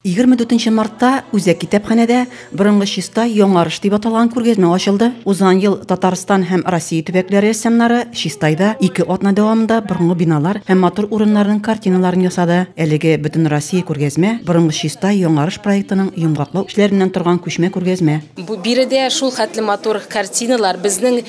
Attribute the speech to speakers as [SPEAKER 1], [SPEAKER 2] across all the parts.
[SPEAKER 1] 24 мартта Үзәк китапханәдә борынгы чиста яңарыш дип аталган күргәзмә ачылды. Узган ел Татарстан һәм Россия төбәкләре рәссамнары Чистайда ике атна дәвамында борынгы биналар һәм матур урыннарның картиналарын ясады. Әлеге Бөтенроссия күргәзмә, Борынгы чиста яңарыш проектының йомгаклау эшләреннән торган күчмә күргәзмә. Биредә
[SPEAKER 2] шулхәтле матур картиналар, безнең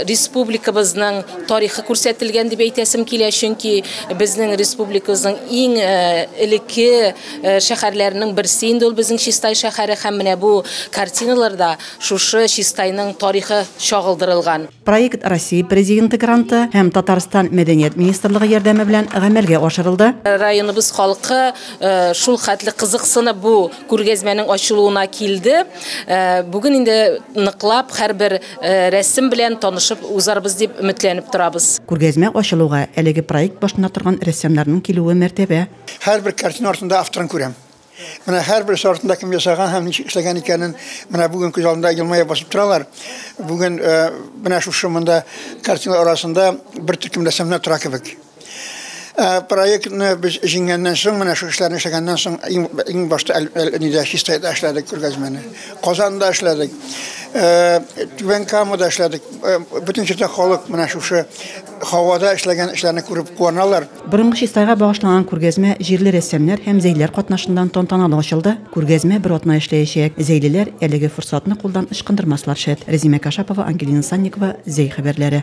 [SPEAKER 2] республикабызның, тарихы күрсәтелгән дип әйтәсем килә, чөнки безнең республикабызның иң э, элекке э, шәһәрләренең берсе инде ул безнең Чистай шәһәре һәм менә бу картиналарда шушы Чистайның тарихы чагылдырылган. Проект Россия
[SPEAKER 1] президенты гранты һәм Татарстан мәдәният министрлыгы ярдәме белән гамәлгә ашырылды. Районыбыз халкы
[SPEAKER 2] э, шул хәтле кызыксынып бу күргәзмәнең ачылуына килде. Бүген инде ныклап һәрбер Рәсем белән танышып узарбыз дип өметләнеп торабыз. Күргәзмә ачылуга
[SPEAKER 1] әлеге проект башында торган рәссамнарның килүе мәртәбә. Һәрбер картина
[SPEAKER 3] артында авторын күрәм. Менә һәрберсе артында кем ясаган һәм ничек эшләгән икәнен менә бүген күз алдында елмая басып торалар. Бүген менә шушы монда картиналар арасында бер төркем рәссамнар тора кебек. Э, проектны без җиңгәннән соң, менә шу эшләрне эшләгәннән соң, иң башта нидә чистайда эшләдек күргәзмәне. Казанда эшләдек. Э, Түбән Камада эшләдек. Э, бөтен җирдә халык менә шушы һавада эшләгән эшләрне күреп куаналар. Борынгы чистайга
[SPEAKER 1] багышланган күргәзмә җирле рәссамнар һәм зәйлеләр катнашыннан тантаналы ачылды. Күргәзмә бер атна эшләячәк. Зәйлеләр әлеге форсатны кулдан ычкындырмаслар шәт. Рәзимә Кашапова, Ангелина Санникова, Зәй хәбәрләре.